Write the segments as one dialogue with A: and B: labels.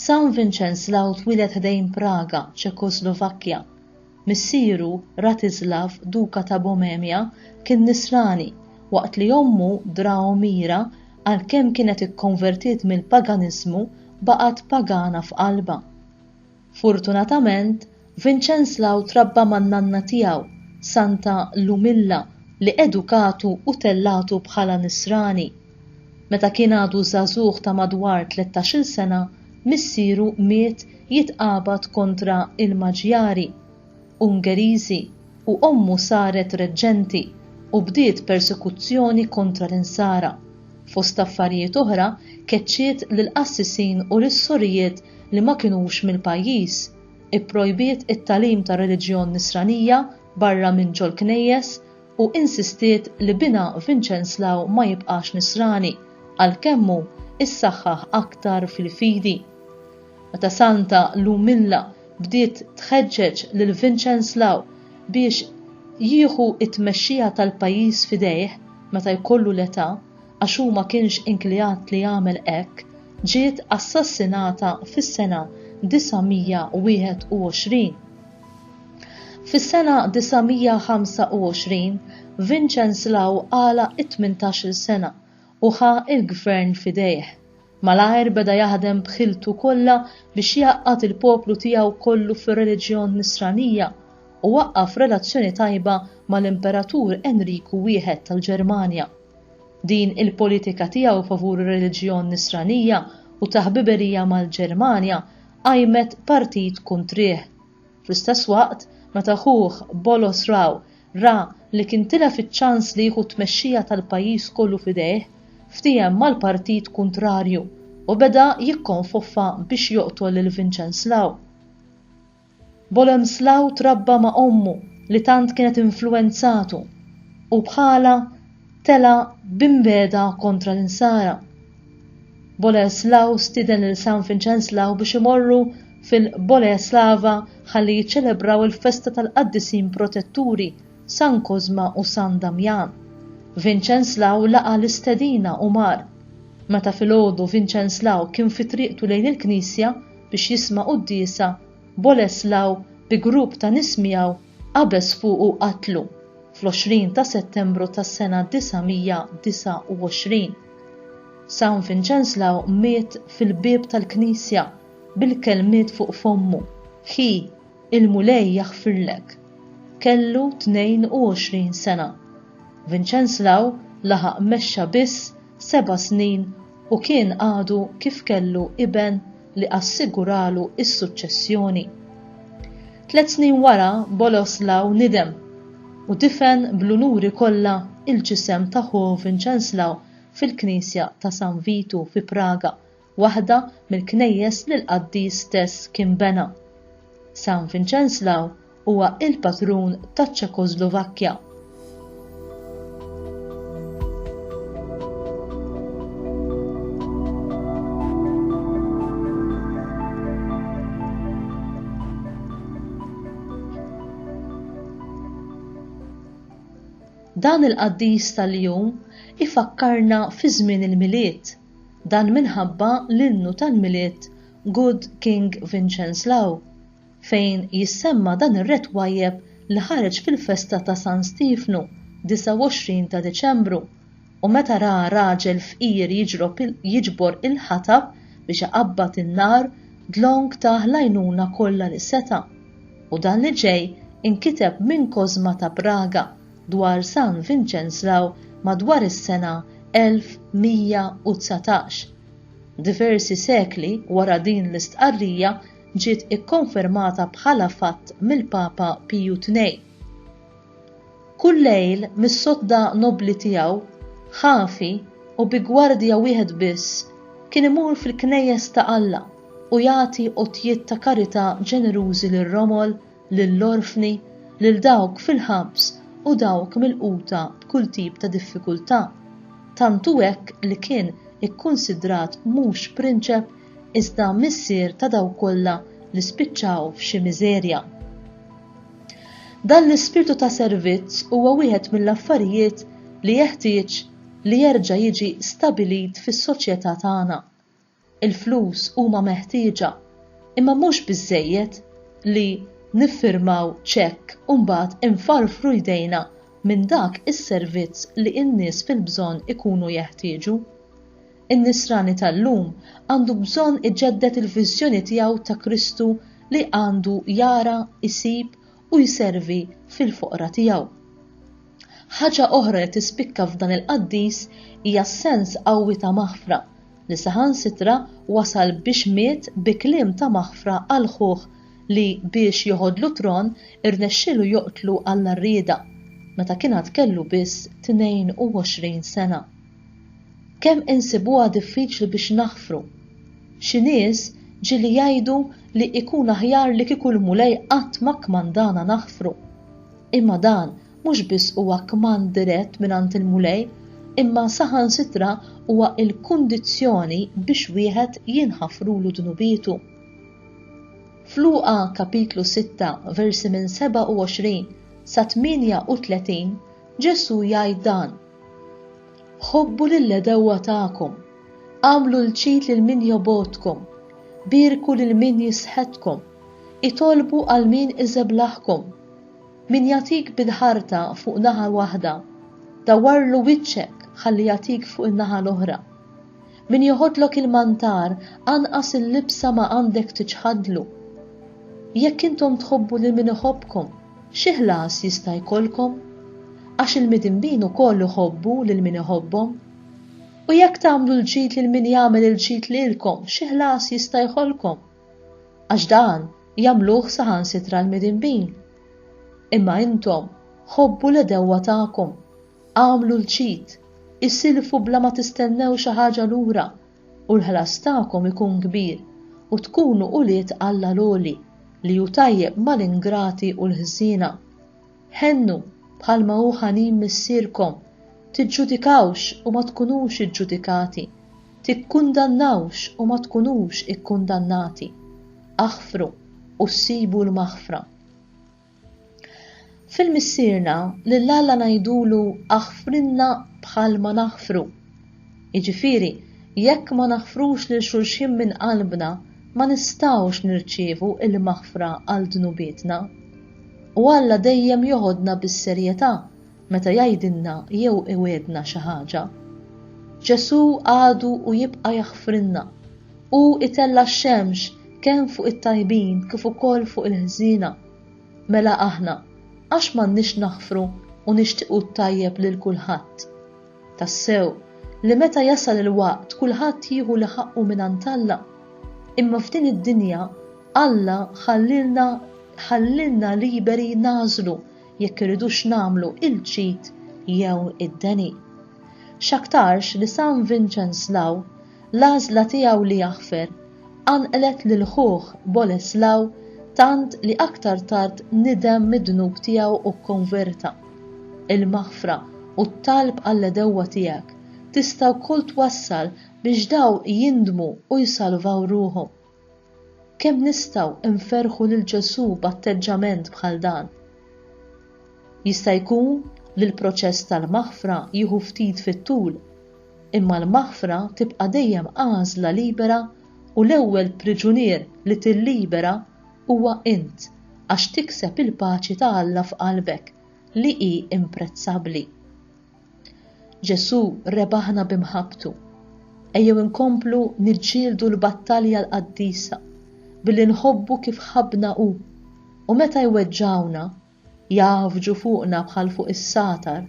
A: San Vinċenslaw twieled ħdejn Praga, Ċekoslovakkja. Missieru, Ratislav, Duka ta' Boemia, kien Nisrani, waqt li ommu, Draomira, għalkemm kienet ikkonvertiet mill-paganiżmu, baqgħet pagana f'qalbha. Fortunatament, Vincenslaw trabba man-nanna tiegħu, Santa Lumilla, li edukatu u tellagħtu bħala Nisrani. Meta kien għadu żagħżugħ ta' madwar tlettax-il sena, missieru miet jitqabad kontra l-Maġjari, Ungeriżi, u ommu saret reġġenti u bdiet persekuzzjoni kontra l-Insara. Fost affarijiet oħra, keċċiet lill-qassisin u lis-sorijiet li ma kinux mill-pajjiż, ipprojbiet it-tagħlim tar-reliġjon Nisranija barra minn ġol-knejjes u insistiet li binha Vinċenslaw ma jibqax Nisrani, għalkemm hu issaħħaħ aktar fil-fidi. Meta Santa Lumilla bdiet tħeġġeġ lil Vinċenslaw biex jieħu t-tmexxija tal-pajjiż f'idejh meta jkollu l-età, għax hu ma kienx inkliat li jagħmel hekk, ġiet assassinata fis-sena 921. Fis-sena 925, Vinċenslaw għala t-tmintax-il sena u ħa l-gvern f'idejh. Malajr beda jaħdem b'ħiltu kollha biex jgħaqqad il-poplu tiegħu kollu fir-reliġjon Nisranija u waqqaf relazzjoni tajba mal-Imperatur Enriku Wieħed tal-Ġermanja. Din il-politika tiegħu favur ir-reliġjon Nisranija u ta' ħbiberija mal-Ġermanja qajmet partit kuntrih. Fl-istess waqt, meta ħuh, Bolos Raw, ra li kien tilef iċ-ċans li jieħu t-tmexxija tal-pajjiż kollu f'idejh, ftiehem mal-partit kuntrarju u beda jikkonfoffa biex joqtol lil Vinċenslaw. Boleslaw trabba ma' ommu li tant kienet influwenzatu u bħalha tela' b'inbeda kontra l-Insara. Boleslaw stieden lil San Vinċenslaw biex imorru fil-Boleslava ħalli jiċċelebraw il-festa tal-qaddisin protetturi San Kożma u San Damjan. Vinċenslaw laqa' l-istedina u mar. Meta filgħodu Vinċenslaw kien fi triqtu lejn il-knisja, biex jisma' quddiesa, Boleslaw bi grupp ta' nies miegħu qabeż fuqu u qatlu, fl-20 ta' Settembru tas-sena 929. San Vinċenslaw miet fil-bieb tal-knisja bil-kelmiet fuq fommu, Ħi, il-Mulej jaħfirlek. Kellu 22 sena. Vinċenslaw laħaq mexxa biss seba' snin u kien għadu kif kellu iben li assiguralu s-suċċessjoni. Tliet snin wara Boleslaw nidem u difen bl-unuri kollha l-ġisem ta' ħuh Vinċenslaw fil-knisja ta' San Vitu fi Praga, waħda mill-knejjes li l-qaddis stess kien bena. San Vinċenslaw Huwa il-patrun taċ-Ċekoslovakkja. Dan il-qaddis tal-jum ifakkarna fi żmien il-milied. Dan minħabba l-innu tal-milied Good King Vincenslaw fejn jissemma dan ir-re twajjeb li ħareġ fil-festa ta' San Stiefnu, 29 ta' Diċembru, u meta ra raġel fqir jiġrob jiġbor il-ħatab biex iqabbad in-nar, dlonk tah l-għajnuna kollha li seta'. U dan li ġej inkiteb minn Kożma ta' Praga dwar San Vinċenslaw madwar is-sena 1119. Diversi sekli wara din l-istqarrija, ġiet ikkonfermata bħala fatt mill-Papa Piju Tnej. Kull lejl mis-sodda nobbli tiegħu, ħafi u bi gwardja wieħed biss kien imur fil-knejjes ta' Alla u jagħti għotjiet ta' karità ġenerużi lir-romol, lill-orfni, lil dawk fil-ħabs u dawk milquta b'kull tip ta' diffikultà, tant hu hekk li kien ikkunsidrat mhux prinċep iżda missier ta' dawk kollha li spiċċaw f'xi miżerja. Dan l-ispirtu ta' servizz huwa wieħed mill-affarijiet li jeħtieġ li jerġa' jiġi stabilit fis-soċjetà tagħna. Il-flus huma meħtieġa, imma mhux biżżejjed li niffirmaw ċekk u mbagħad infarfru jdejna minn dak is-servizz li n-nies fil-bżonn ikunu jeħtieġu. In-Nisrani tal-lum għandu bżonn iġedded il-viżjoni tiegħu ta' Kristu li għandu jara, isib u jservi fil-foqra tiegħu. Ħaġa oħra li tispikka f'dan il-qaddis hija s-sens qawwi ta' maħfra li saħansitra wasal biex miet bi kliem ta' maħfra għal ħuh li biex joħodlu tron irnexxielu joqtlu Alla Rieda meta kien għad kellu biss 22 sena. Kemm insibuha diffiċli biex naħfru! Xi nies ġieli jgħidu li ikun aħjar li kieku l-Mulej qatt ma kkmandana naħfru. Imma dan mhux biss huwa kmand dirett mingħand il-Mulej, imma saħansitra huwa l-kundizzjoni biex wieħed jinħafrulu dnubietu. F'Luqa kapitlu sitta, versi minn 27 sa 38, Ġesù jgħid dan, Ħobbu lill-għedewwa tagħkom, agħmlu l-ġid lil min jobgħodkom, bierku lil min jisħetkom, itolbu għal min iżeblaħkom. Min jagħtik bil-ħarta fuq naħa waħda, dawwarlu wiċċek ħalli jagħtik fuq in-naħa l-oħra. Min joħodlok il-mantar, anqas il-libsa ma għandek tiċħadlu. Jekk intom tħobbu lil min iħobbkom, Xi ħlas jista' jkollkom? Għax il-midinbin ukoll iħobbu lil min iħobbhom. U jekk tagħmlu l-ġid lil min jagħmel il-ġid lilkom, xi ħlas jista' jħollkom? Għax dan jagħmluh saħansitra l-midinbin. Imma intom ħobbu l-għedewwa tagħkom, agħmlu l-ġid, isilfu bla ma tistennew xi ħaġa lura, u l-ħlas tagħkom ikun kbir, u tkunu ulied Alla l-Għoli, li hu tajjeb mal-ingrati u l-ħżiena. Ħennu, bħalma hu ħanin Missierkom, tiġġudikawx u ma tkunux iġġudikati, tikkundannawx u ma tkunux ikkundannati, aħfru u ssibu l-maħfra. Fil-Missierna, lil Alla ngħidulu aħfrilna bħalma naħfru. Jiġifieri, jekk ma naħfrux lil xulxin minn qalbna, ma nistgħux nirċievu l-maħfra għal dnubietna. U Alla dejjem joħodna bis-serjetà meta jgħidilna jew iwiegħdna xi ħaġa. Ġesù għadu u jibqa' jaħfrilna. Hu itella' x-xemx kemm fuq it-tajbin kif ukoll fuq il-ħżiena. Mela aħna, għax m'għandniex naħfru u nixtiequ t-tajjeb lil kulħadd? Tassew, li meta jasal il-waqt kulħadd jieħu li ħaqqu mingħand Alla. Imma f'din id-dinja Alla ħallielna ħallielna liberi nagħżlu jekk irridux nagħmlu il-ġid jew id-deni. X'aktarx li San Vinċenz Law, l-għażla tiegħu li jaħfer, qanqlet lil ħuh Boleslaw tant li aktar tard nidem mid-dnub tiegħu u kkonverta. Il-maħfra u t-talb għall-għedewwa tiegħek tista' wkoll twassal biex daw jindmu u jsalvaw ruħhom. Kemm nistgħu nferrħu lil Ġesù b'atteġġament bħal dan! Jista' jkun li l-proċess tal-maħfra jieħu ftit fit-tul, imma l-maħfra tibqa' dejjem għażla libera u l-ewwel priġunier li tillibera huwa int għax tikseb il-paċi ta' Alla f'qalbek, li hi imprezzabbli. Ġesù rebaħna bi mħabbtu. Ejjew inkomplu niġġieldu l-battalja l-qaddisa billi nħobbu kif ħabbna hu, u meta jweġġgħuna, jgħaffġu fuqna bħal fuq is-sagħtar,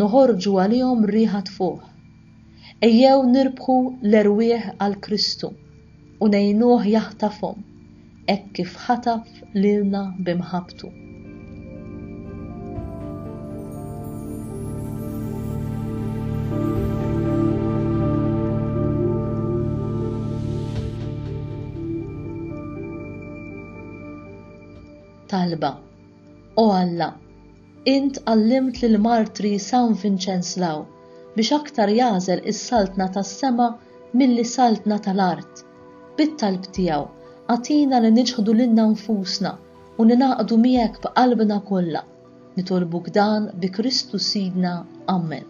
A: noħorġu għalihom riħa tfuħ. Ejjew nirbħu l-erwieħ għal Kristu u ngħinuh jaħtafhom hekk kif ħataf lilna b'imħabbtu. talba. O Alla, Int għallimt lill-martri San Vinċenslaw biex aktar jagħżel is-saltna tas-sema milli saltna tal-art. Bit-talb tiegħu, agħtina li niċħdu lilna nfusna u ningħaqdu miegħek b'qalbna kollha. Nitolbuk dan bi Kristu Sidna. Ammen.